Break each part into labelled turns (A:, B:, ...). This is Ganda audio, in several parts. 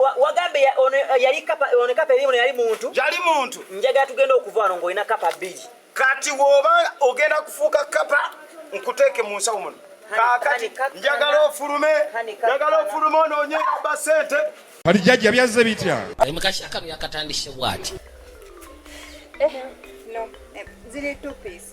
A: wagambe ono yali kapa ono kapa elimu yali muntu yali muntu njaga tugenda okuva wano ngolina kapa bbiri kati woba
B: ogenda kufuuka kapa nkuteeke mu nsawo muno kakati njagala ofulume njagala ofulume onoonye aba sente kati jajja
C: byazze bitya ali mukasha kano
D: yakatandise bwati eh,
E: no. Eh, ziri two piece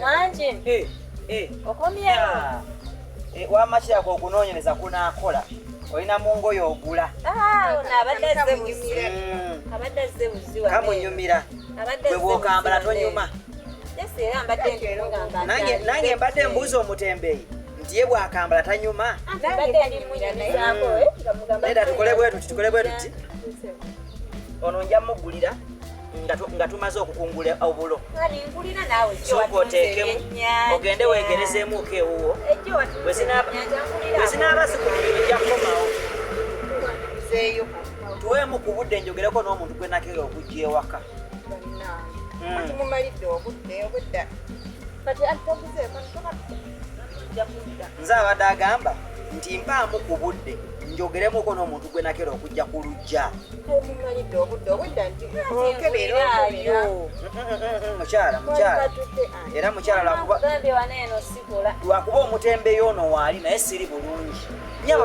A: Manje.
F: Eh, eh. Okomye. Ah. Eh, wa
A: machi yako kunonyeleza kuna akola. Oina mungo yo ogula. Ah, una abadde ze muzira. Mm.
F: Abadde ze muziwa. Kamu nyumira.
A: Abadde ze. Wewe kambala to nyuma. Yesi era mbadde ndunga mbadde. Nange nange mbadde mbuzo mutembeyi. Ndiye bwa kambala tanyuma. Ah, mbadde ndi munyira naye. Neda tukole bwetu, tukole bwetu. Ono njamugulira. nga tumaze okukungula obulo sooka oteekemu ogende weegerezeemuuko ewuwo bwezinaaba zikulumira ojja kukomawo tuweemu ku budde njogereko n'omuntu gwe nakera okujja ewaka hmm. nze abadde agamba nti mpaamu ku budde njogeremuko n'omuntu gwe nakera okujja ku lujja
E: mukyala
A: mukyala era mukyala lwakuba omutembe yoono waali naye siri bulungi nyaba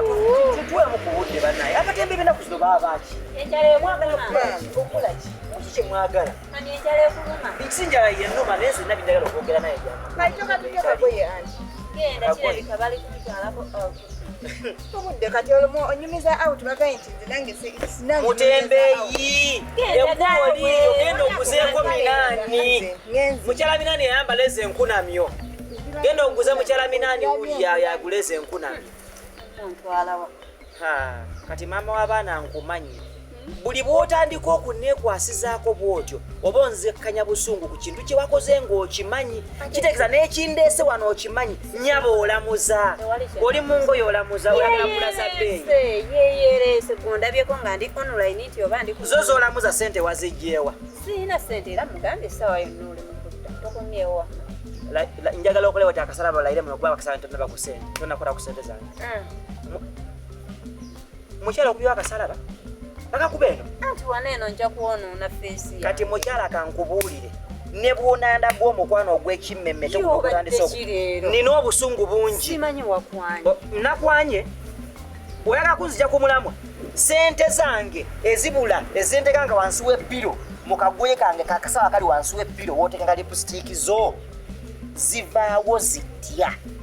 A: tutwemu ku budde banaye abatembe benaku zino baabaki mwagala kukolaki kiki kyemwagala Sinjala yenuma naye nze nabbi njagala okwogera naye
F: obudde
E: kati olumu onyumiza out bagaye nti nze nange mutembeyi
A: enkoliyo genda oguzeeko minaani mukyala minaani yayambala ezo enkunamyo genda oguze mukyala minaani wulya yagula ezo enkunamyo kati maama w'abaana nkumanyi buli bw'otandika okunneekwasizaako bw'otyo oba onzekkanya busungu ku kintu kye wakoze ng'okimanyi kitegeeza n'ekindeese wano okimanyi nyaba olamuza oli mu ngoye olamuza olamuza beeyiyeyereese
F: gondabyeko nga ndi online nti oba ndi zo z'olamuza ssente
A: wazijjeewa sirina ssente era
F: mugambye essaawa yonna oli mu kudda tokomyewo
A: njagala okulewa ti akasala balaire muno kuba bakasala ntonna bakusente tonnakola ku sente zange Mm. Mukyala okubiwa akasalaba bakakuba eno anti wana eno nja
F: kwonoona feesi kati mukyala
A: kankubuulire ne bwonanda bw'omukwano ogw'ekimmemme nina obusungu bungi oh,
F: nakwanye
A: oyagala kunzija ku mulamwa sente zange ezibula ezinteka nga wansi w'ebbiro mu kagoye kange kakasaba kali wansi w'ebbiro wooteeka nga lipusitiiki zo zivaawo zitya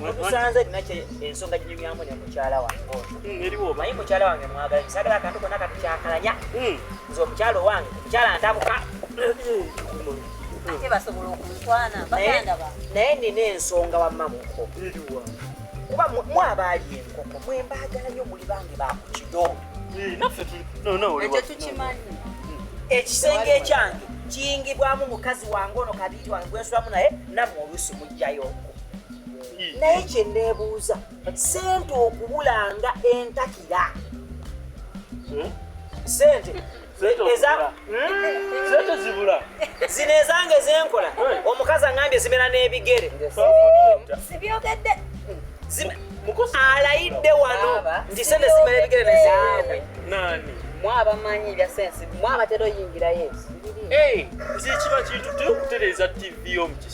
A: musanze nakye ensonga ginyumyamu ne mukyala wange hmm, naye mukyala wange
G: mwagala
A: kisagala akantu kona katukyakalanya hmm. nze omukyala owange omukyala ntabuka ate
F: basobola okuntwana baganda ba naye nina ensonga
A: wamma muko kuba mwabaali enkoko mwembaagala nyo muli bange bakukido
G: ekyo tukimanyi
F: ekisenge
A: ekyange kiyingibwamu mukazi wange ono kabiiri wange gwensulamu naye namwe oluusi mujjayo naye kyenebuuza sente okubulanga entakira hmm? sente
G: sente zibula zino ezange
A: zenkola omukazi angambye zimera n'ebigere sibyogedde alayidde wano nti sente zimera ebigere nezigende
G: mwabamanyi ebya
F: sensi mwabatera oyingirayo ekiba
G: kintu tekutereeza tv omuki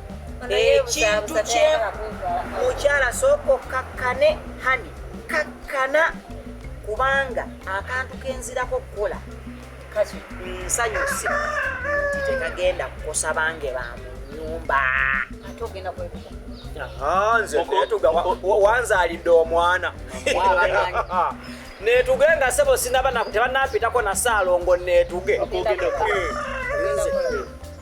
A: ekintu kye mukyala sooka okkakkane hani kakkana kubanga akantu kenzirako okukola kati nsanyuse nti tekagenda kukosa bange ba mu nyumba ate ogenda
F: kwebuka
A: wanzalidde omwana netuge nga sebo sinaba tebanapitako na saalongo netuge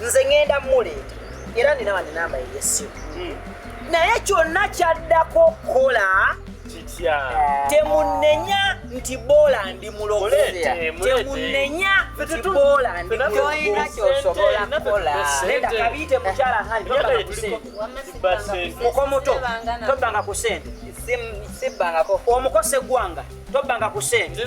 A: nze ngenda muleeta era nina wani namba eyesimu hmm. naye kyonna kyaddako okukola eh. temunenya nti boola ndi mulogotemunenya nti boola ndi mulogoyina kyosobola kukola neda kabiite mukyala handi mukomuto tobbanga ku sente sibbangako
F: omukose
A: gwanga tobbanga ku sente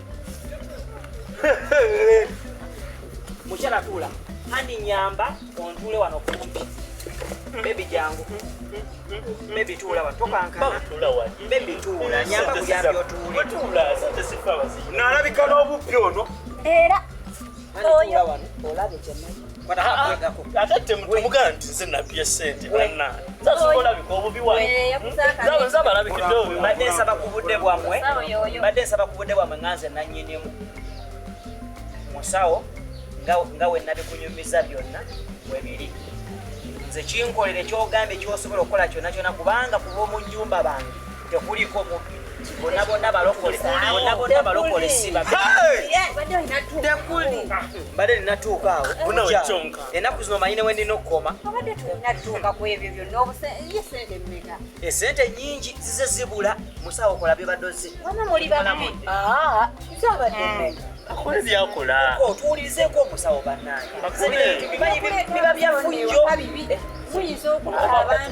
A: mukyala tuula andi nyamba ontuule wano kumpi bebi jangu bebi tuula wano tokankana bebi tuula nyamba kuyambi otuule
B: nalabika n'obuppi ono era
A: ate
G: temutumugaa nti nze nabye sente banna zazikolabika obubi wazabalabikidde obubadde nsaba ku budde
A: bwammwe badde nsaba ku budde bwammwe nga nze nanyinimu musawo nga wenabikunyumiza byonna webiri nze kinkolere kyogambye kyosobola okukola kyona kyona kubanga ku bwomu nyumba bange tekuliko mubbi bona bona balokole bona bona balokole siba tekuli mbadde ninatuuka awo enaku zino manyi newe ndina okukoma esente nyingi zize zibula musawo okola byebadozi akole
G: byakola otuwulirizeeko omusawo
A: bannange biba byafuyyo muyinza okulaba
G: abantu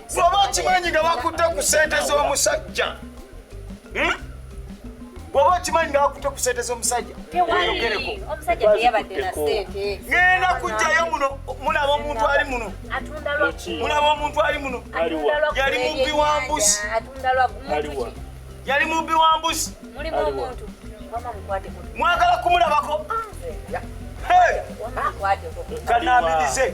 A: bwoba okimanyi nga
B: bakutte ku sente z'omusajja hmm? bwoba okimanyi nga bakutte ku sente z'omusajja oyogereko ngenda kujjayo muno mulaba omuntu ali muno mulaba omuntu ali muno yali mubbi wa mbuzi yali mubbi wa mbuzi mwagala kumulabako kanamirize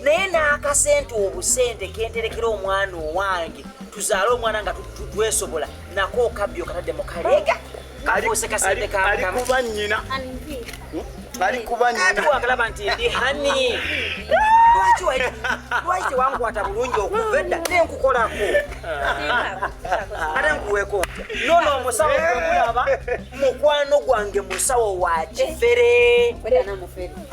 A: naye n'akasente obusente kenterekera omwana owange tuzaale omwana nga twesobola nako okabbi okatadde mu kaleega alikuba nyina alikuba
B: nyinaagalaba nti ndi
A: hani lwaki tewankwata bulungi okuva edda nenkukolako ate nkuweko nono omusawo okulaba mukwano gwange musawo wa kifere